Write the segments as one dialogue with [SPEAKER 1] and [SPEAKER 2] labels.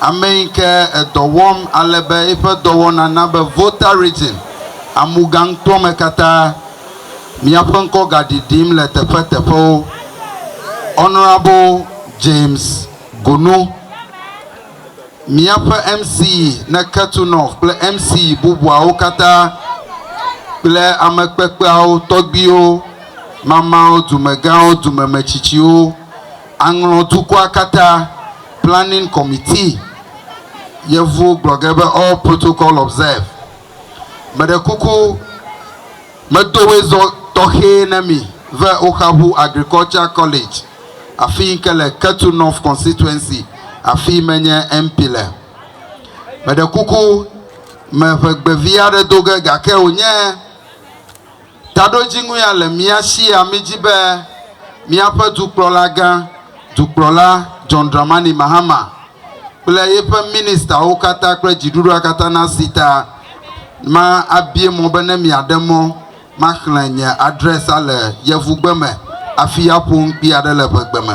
[SPEAKER 1] Ame yi ke edɔ wɔm ale be eƒe dɔwɔna na be votarism amu gaŋkpɔ me katã. Míaƒe ŋkɔ gaɖiɖim le teƒeteƒewo. Honourable James Gunu, míaƒe MC ne Ketu North kple MC bubuawo katã kple ame kpekpeawo, tɔgbuiwo, mamao, dumegãwo, dumemetsitsiwo. Aŋlɔ dukɔa katã Planning Committee, Yevuwo gblɔ ge be all protocol observe. Meɖe kuku medo wezɔ tɔxɛ ne mi ve Oxahu Agriculture College afi yi ke le Ketu North Constituency afi yi menye MP le. Meɖe kuku me ʋegbevi aɖe do ge gake wònye. Taɖodzinu ya le mía sia mí dzi be míaƒe Dukplɔlagã, Dukplɔla John Dramani Mahama, kple yeƒe Ministawo katã kple dziɖuɖua katã nasi ta. Ma abie mɔ be ne miaɖe mɔ maxlẽ nye adrɛsa le Yevugbe me hafi aƒo nu kpi aɖe le ʋegbe me.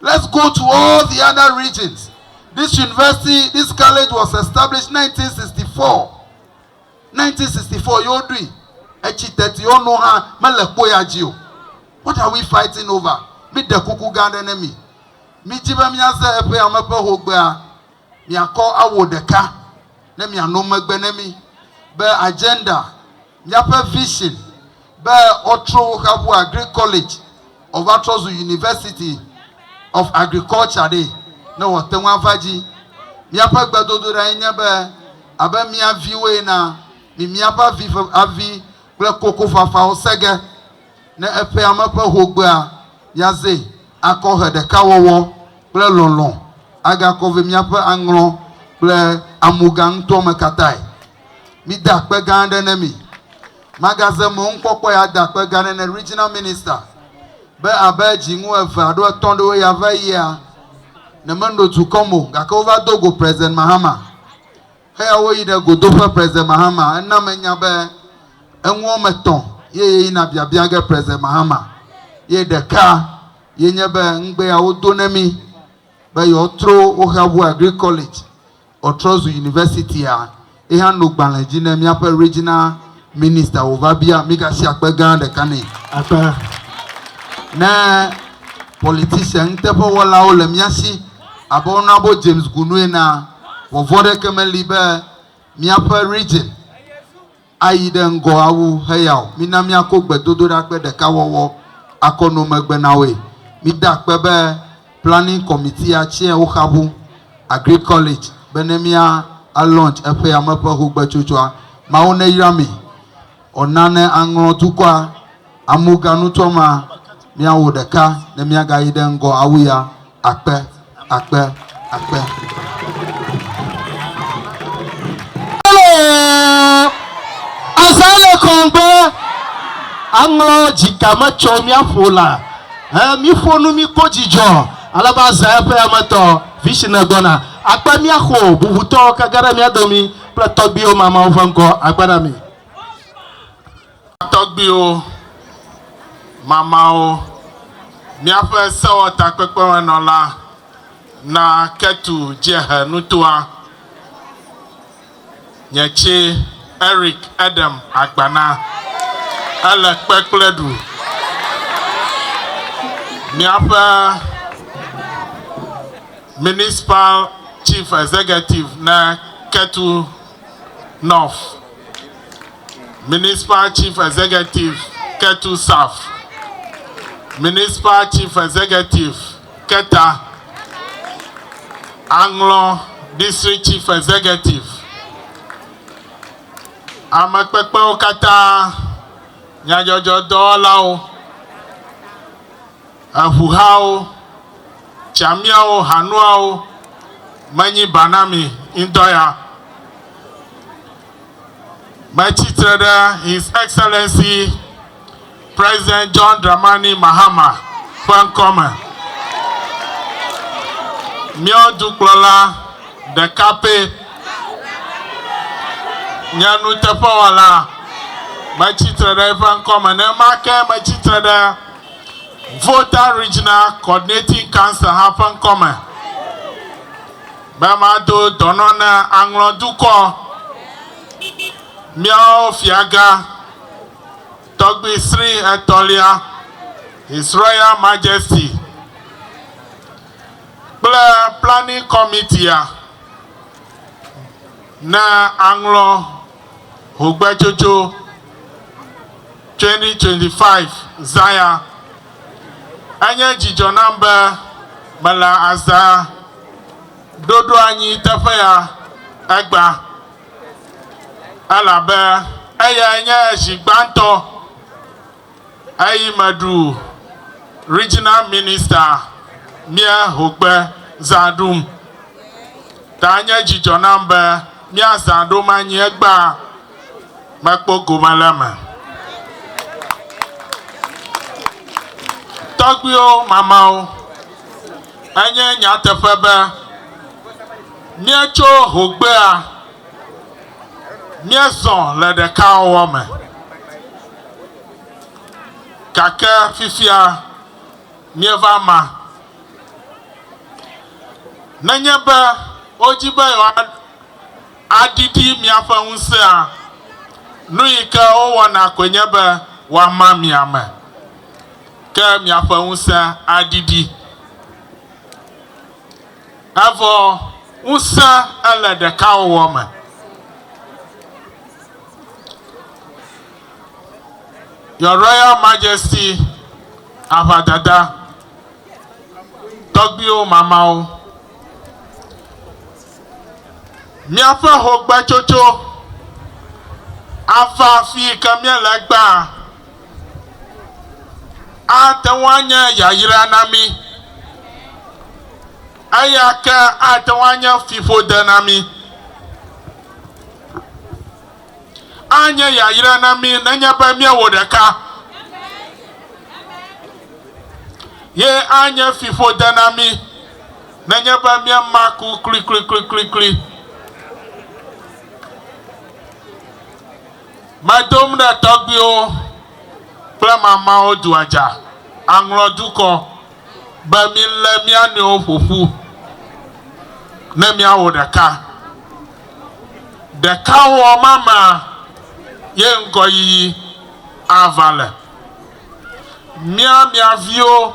[SPEAKER 1] Let's go to all the other regions. This university, this college was established 1964. 1964 ye woɖui. Etsi teti wo nu hã mele kpo ya dzi o. What are we fighting over? Míɖe kuku gã aɖe ne mi. Mídi be míaze eƒe ame ƒe hogbea. Miakɔ awo ɖeka ne miano megbe ne mí be agenda. Míaƒe vision be wotrɔ wo xa ƒu Agric College wòva trɔ zu University of Agriculture ɖe, ne wòate ŋu ava dzi. Míaƒe gbedodoɖae nye be abe mía viwo ena, mi míaƒe avi ƒe avi kple kokofafawo se ge ne eƒea me ƒe hogbea míaze akɔ he ɖekawɔwɔ kple lɔlɔ̃ agakɔ vɛ míaƒe aŋlɔ kple amuga ŋutɔ me katãe. Mide akpe gã aɖe ne mi. Magaze mɔ ŋkpɔkpɔe ade akpe gã aɖe ne Regional Minister be abe dziŋu eve alo etɔ̃ ɖewo ya va yia, ne meno dukɔ mo gake wova do go President Mahama. Eya woyi ɖe godoƒe President Mahama. Ena menya be eŋu wɔme etɔ̃ ye yeyina biabia ge President Mahama. Ye ɖeka ye nye be ŋugbe ya wodo ne mi be yewoatro woxa ŋu Agric College. Ɔtrɔ zu Universitya, ye hã no gbalẽ dzi ne míaƒe Regional Minister wòva bia mígasi akpe gã ɖeka nɛ. Akpa. Ne politician nuteƒewɔlawo le mía si abe Honorable James Gunu enea, vɔvɔ̃ aɖeke meli be míaƒe Region, Ayi ɖe ŋgɔ awu heya o. Mina míako gbedodoɖa kple ɖekawɔwɔ akɔ no megbe na woe. Mide akpe be Planning Committee a tsɛa woxabu Agric College be ne mía a launch eƒe yame ƒe hogbetsotsoa. Mawu neyra mi ɔ na ne aŋlɔ dukɔa. Amuga nutɔ ma miawo ɖeka ne miaga yi ɖe ŋgɔ awu ya akpe akpe akpe.
[SPEAKER 2] Azã le kɔngbe aŋlɔ dzika me tsɔ miaƒo la he miƒo nu mi kpɔ dzidzɔ alebe azã eƒe ametɔ vision gbɔna akpe miaxo bubutɔ kege ɖe mia domi kple tɔgbiwo mamao ƒe ŋkɔ agbe na mi.
[SPEAKER 3] Tɔgbuiwo, Mamawo, Míaƒe Sewɔtakpekpemenɔla na Ketu Dziehe nutoa, Nye tsɛ, Eric Edem Agbana, ele kpe kple ɖu. Míaƒe Municipal Chief Executive na Ketu North. Municipal Chief Executive Ketu South, Municipal Chief Executive Keta, Aŋlɔ District Chief Executive, ame kpekpewo katã, nyadzɔdzɔdɔwɔlawo. Eŋuhawo, tsamiawo, hanuawo menyi ba na mi ŋutɔ ya. Metsi tre ɖe His Excellency President John Dramani Mahama ƒe ŋkɔ me, mía dukplɔla ɖeka pɛ, nye nuteƒewɔla. Metsi tre ɖe eƒe ŋkɔ me, nenema ke metsi tre ɖe. Volta Regional Coordinating Council hã ƒe ŋkɔ me be mado dɔnɔ na Aŋlɔ dukɔ, míawo Fiagã Tɔgbi Sri Etɔ̃lia, His Royal Majesty, kple Planning Committee-a. Na aŋlɔ ŋugbetsotso 2025 zãya. Enye dzidzɔ nam be mele azã ɖoɖoanyi teƒe ya egbea, elabe eyae nye zi gbãtɔ eyi me ɖu Regional Minister mía hogbe zã ɖum. Ta nye dzidzɔ nam be mía zã ɖom anyi egbea mekpɔ gome le eme. Tɔgbuiwo, mamawo, enye nyateƒe be mía tso hogbea. Míezɔ le ɖekawɔwɔ me, gake fifia míeva ma. Nenye be wodi be yewoaɖiɖi míaƒe ŋusẽa, nu yi ke wowɔna koe nye be woama mi ame, ke miaƒe ŋusẽ aɖiɖi. Evɔ ŋusẽ ele ɖekawɔwɔ me. Your Royal Majesty Aʋadada, tɔgbuiwo mamawo, míaƒe hogbetsotso ava afi yi ke míele egbea. ate ŋu anye yayra na mí. Eya ke ate ŋu anye fiƒode na mí. Anye yayra na mí nenye be míewɔ ɖeka. Ye anye fiƒode na mí nenye be míema ku kliklikliklikli. Medom ɖe tɔgbuiwo kple mamãwo dua dza, aŋlɔ dukɔ, be milé mía nɔewo ƒo ƒu ne míawɔ ɖeka. Ɖekawɔwɔ ma mea ye ŋgɔyiyi ava le. Mía mia viwo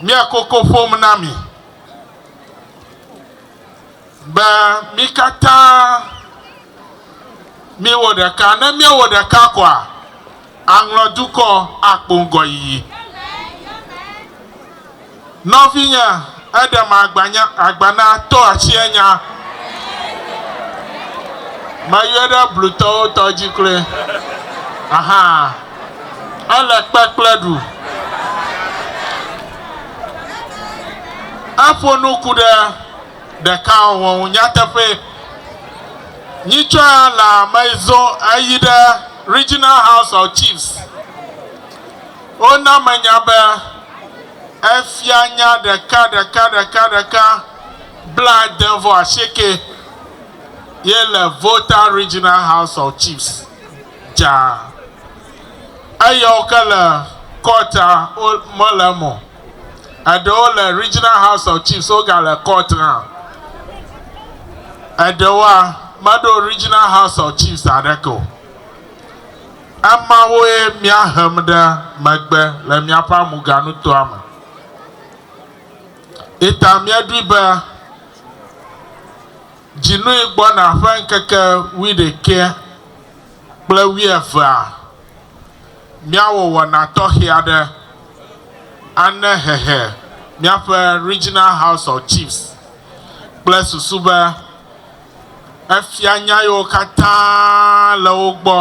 [SPEAKER 3] míekoko ƒom na mi. be mí katã míwɔ ɖeka. Ne míewɔ ɖeka koa, aŋlɔ dukɔ akpɔ ŋgɔyiyi. Nɔvinye, eɖem agbanya, agbana to atsiɛ nya. Meyɔe ɖe blutɔwo tɔ dzi kloe. Ahaa. Ele kpekple ɖu. Eƒo nu ku ɖe. ɖeka ɔwɔ ŋu nyateƒe. Nyitsɔa le ame yi zɔ eyi ɖe Regional House of Chiefs. Wona me nya be efia nya ɖeka ɖeka ɖeka ɖeka blaade vɔ asieke ye le Volta Regional House of Chiefs dzaa. Eyɔwo ke le kɔɔtia wo mele eme o. Eɖewo le Regional House of Chiefs wogale court hã. Eɖewoa, meɖo Regional House of Chiefs aɖeke o. Emawoe mía hem ɖe megbe le míaƒe amuganutoa me. Eta míeɖoe be dzinui gbɔna ƒe ŋkeke wuiɖekɛ kple wuievea. Míawɔ wɔna tɔxɛ aɖe ane hehe míaƒe Regional House of Chiefs kple susu be efia nya yiwo katã le wo gbɔ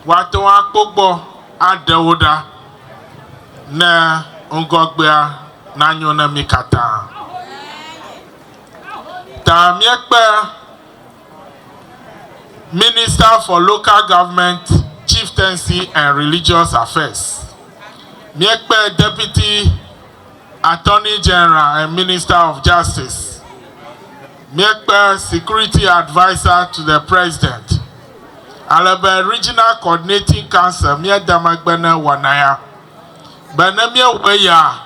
[SPEAKER 3] woate ŋu akpɔ gbɔ aɖe wo ɖa ne ŋgɔgbea nanyo na mí katã. Ta míekpe Minister for Local Government, Chieftaincy and Religious Affairs, míekpe Deputy Attorney General and Minister of Justice, míekpe Security Adviser to the President, ale be Regional Coordinating Council míede megbe ne wɔna ya, be ne míewɔ eya,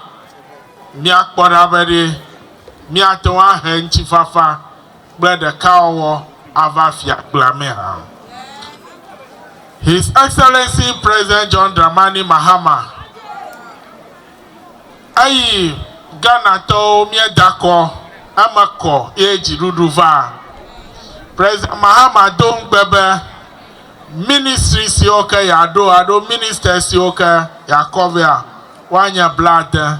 [SPEAKER 3] míakpɔ ɖa be ɖe míate ŋu ahe ŋutifafa kple ɖekawɔwɔ ava fiakpea me hã. His Excellency President John Dramani Mahama, eyi Ghanatɔwo míeda kɔ eme kɔ ye dziɖuɖu va. President Mahama do ŋugbe be ministry siwo ke yeaɖo alo ministers siwo ke yeakɔ vea woanye blaade.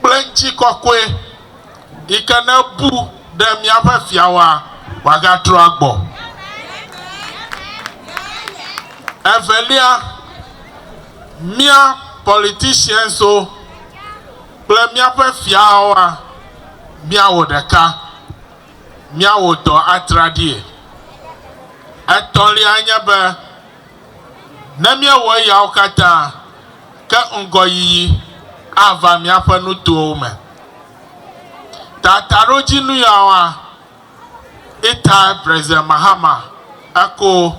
[SPEAKER 3] Kple ŋutikɔkɔe yi ke ne bu ɖe míaƒe Fiawoa, wòagatrɔ agbɔ. Evelia, mía politicianswo kple míaƒe Fiawoa, míawɔ ɖeka, míawɔ dɔ atraɖie. Etɔ̃lia nye be, Ne míewɔ eyawo katã ke ŋgɔyiyi ava míaƒe nutowo me. Tataɖodzinu yawoa, Itai President Mahama eko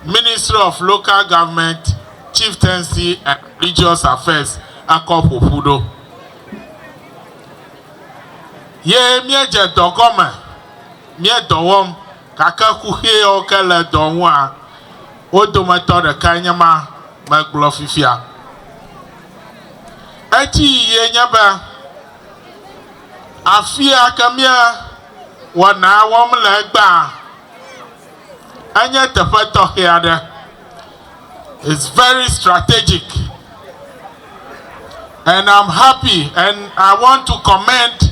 [SPEAKER 3] Ministry of Local Government, Chieftaincy and Religious Affairs ekɔ ƒo ƒu ɖo. Ye míedze dɔ gɔme, míedɔ wɔm. Gake kuxiwo ke le dɔ ŋua, wo dometɔ ɖekae nye ma megblɔ fifia. Eti yiye nye be, afia ke mía wɔnaa wɔm le egbea, enye teƒe tɔxɛ aɖe. It's very strategic and I'm happy and I want to commend.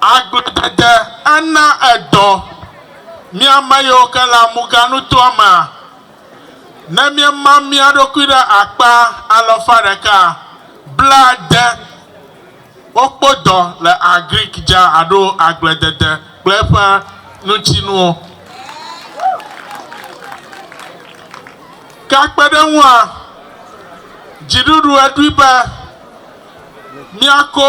[SPEAKER 3] Agbledede ana edɔ mí ame yiwo ke le amuganutoa mea, ne míema mía ɖokui ɖe akpa alafa ɖeka blaade. Wokpɔ dɔ le Agric dza aɖo agbledede kple eƒe ŋutinuwo. Ke akpe ɖe eŋua, dziɖuɖu eɖoe be míako.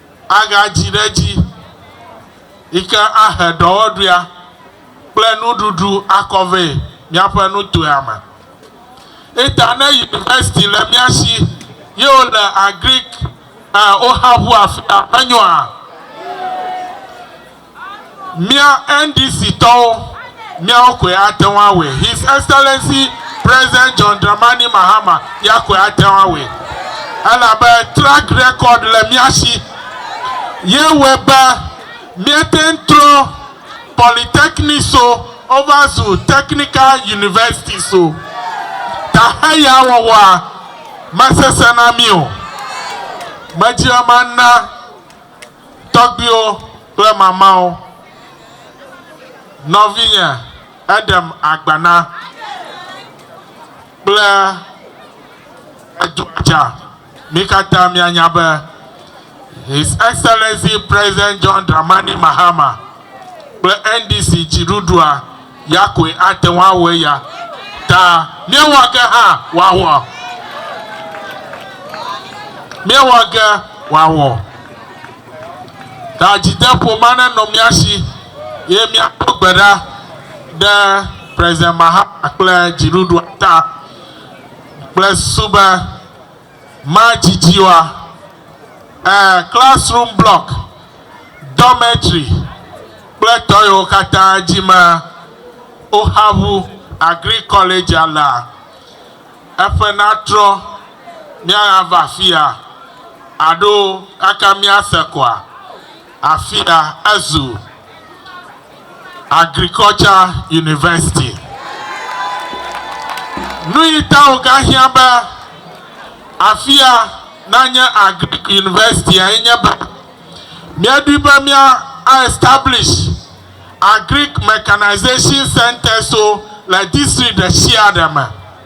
[SPEAKER 3] agadzi ɖe edzi yi ke ahe ɖɔwɔɖuia kple nuɖuɖu akɔ vɛ míaƒe nutoea me. Eta ne yunivɛsiti le mía si ye wole Agric ɛ woxa ŋu afia, menyoa? Mía NDC tɔwo, míawo koe ate ŋu awɔe. His Excellency President John Dramani Mahama ya koe ate ŋu awɔe. Elabe track record le mía si ye wɔe be míete ŋu trɔ polytechnicswo wova zu technical universitieswo. Taxe ya wɔwɔa mesesẽ na mí o. Medzime mana. Tɔgbiwo kple mamawo, nɔvinye eɖem agbana kple edɔa dza. Mi katã mianya be His Excellency President John Dramani Mahama. kple NDC dziɖuɖua ya koe ate ŋu awɔ eya ta míewɔ ge hã wòawɔ. Míewɔ ge wòawɔ. Ta dzideƒo ma nenɔ mía si eye míado gbe ɖa ɖe President Mahama kple dziɖuɖua ta kple susu be, Madzidziwa, ẽ, classroom block, dormitory kple tɔyewo katã dzi me woxa ŋu agric college alea. Eƒe natrɔ míaɣa va afia aɖo kaka míase koa? Afia ezu. Agriculture University. Nuyi ta wogahiã be afia nanye Agric University-a ye nye be míeɖoe be mía a establish Agric Mechanization Centres-wo le district ɖesiaɖe me.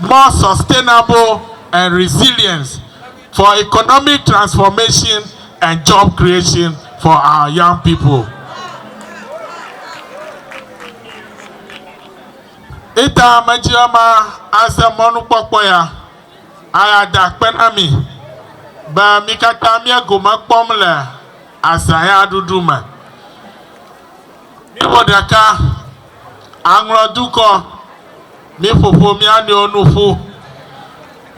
[SPEAKER 3] more sustainable and resilient for economic transformation and job creation for our young people. Ita medzia ma aze mɔnukpɔkpɔ ya aya da akpe na mi be mi katã mia gome kpɔm le azã ya ɖuɖu me. Míwɔ ɖeka, aŋlɔ dukɔ, míƒoƒo mía nɔewo nu ƒu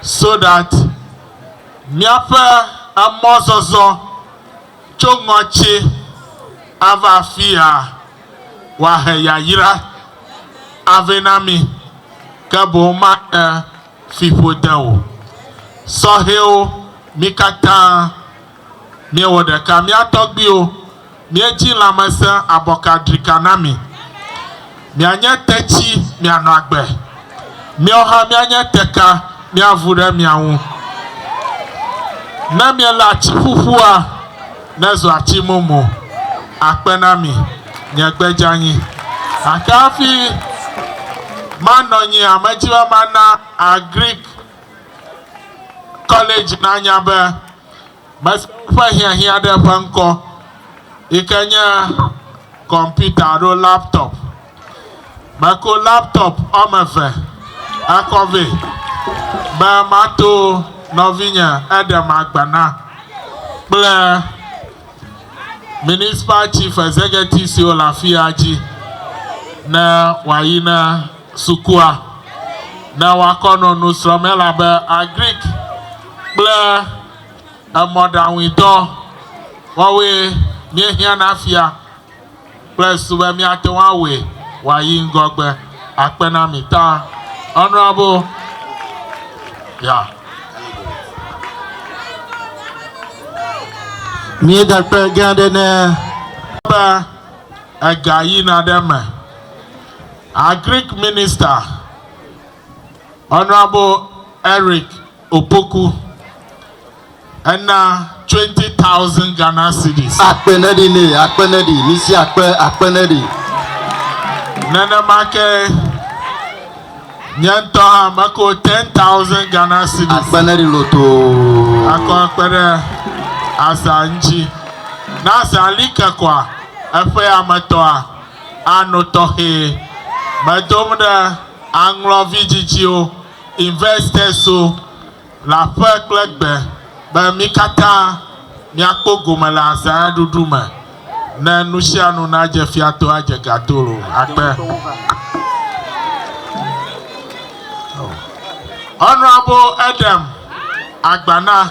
[SPEAKER 3] so that míaƒe emɔzɔzɔ tso ŋɔtsi ava afia wòahe yayra avɛ na mí, ke boŋ mahe fiƒode o. Sɔhɛwo, mí katã. Míewɔ ɖeka, mía tɔgbiwo, míedzi lãmesẽ abɔka drika na mi. Mianye tetsi, mianɔ agbe. Míawo hã míanye teka, míavu ɖe mia ŋu. Ne miele atsi ƒuƒua, nezu atsi mumu. Akpe na mi, nye gbe dzeanyi. Gake hafi manɔ nyi a, medi be mana Agric College nanya be Mese woƒe hiahiã ɖe ƒe ŋkɔ yi ke nye kɔmpita alo laptop. Meko laptop woame eve ekɔ vɛ be mato nɔvinye Edem Agbana kple Municipal Chief Executive siwo le afia dzi ne wòayi ne sukua ne woakɔ nɔ nusrɔ̃m elabe Agric. kple emɔɖaŋuidɔ wɔwoe míehiã na fia kple su be míate ŋu awɔe wòayi ŋgɔgbe akpe na mi ta. Honorable, yeah.
[SPEAKER 2] Míeda kpe gã aɖe ne be
[SPEAKER 3] ega yina ɖe eme. Agric Minister. Honourable Eric Opoku, ena twenty thousand Ghana cedis. Akpe neɖi nɛ,
[SPEAKER 1] akpe neɖi, misi akpe, akpe neɖi.
[SPEAKER 3] Nenema ke nye ŋutɔ hã meko ten thousand Ghana cedis. Akpe neɖi lotoo.
[SPEAKER 1] Akɔ akpe ɖe
[SPEAKER 3] azã ŋuti. Ne azã li ke koa, eƒea me tɔa ano tɔxɛ. Medom ɖe. Aŋlɔ vidzidziwo, investors-wo, le aƒe kple gbe be mí katã míakpɔ gome le azãɖuɖu me ne nusianu nadze fia to adze ga to loo akpe. Honourable Edem Agbana.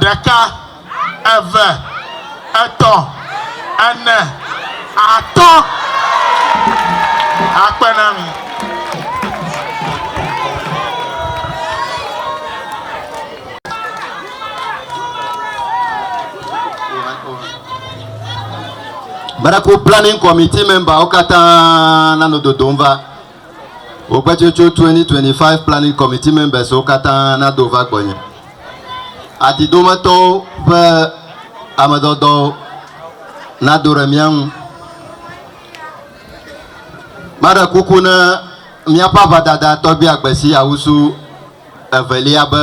[SPEAKER 3] ɖeka, eve, etɔ̃, ene, atɔ̃. Akpe na mi.
[SPEAKER 1] Baraku Planning Committee memberwo katã nanɔ dodom va. Woƒe tsotso 2025 Planning Committee members wo katã nado va gbɔnye. Ati dometɔwo ƒe amedɔdɔwo nado ɖe mía ŋu. Maɖe kuku na míaƒe aʋadada tɔgbia Gbesi Awusu evelia be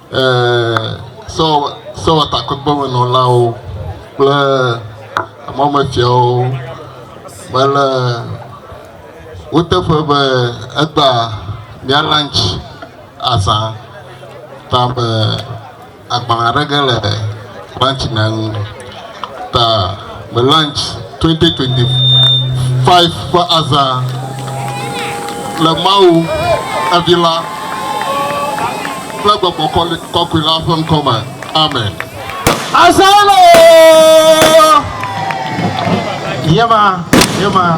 [SPEAKER 4] sewɔtakpekpemenɔlawo kple mɔmefiawo me le wo teƒe be egba mía lunch azã ta be agbalẽ aɖe ge le. Branch na nu ta me launch 2025 ƒe azã le Mawu, evi la, kple gbɔgbɔ kɔkɔe la ƒe ŋkɔ me. Amen.
[SPEAKER 2] Azãloo! Ye ma, ye ma.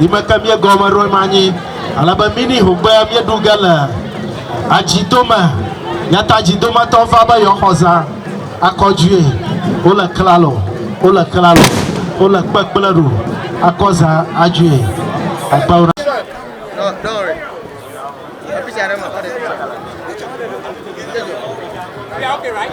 [SPEAKER 2] yi me ke míegɔme ɖo ema nyi ale be mini hogbe míeɖu ge le adzidome. Yata dzidometɔ va be yewoaxɔ zã akɔ due. Wole klalo, wole klalo, wole kpekple ɖu akɔ zã adue. Akpa wo. Yeah,
[SPEAKER 5] okay, right?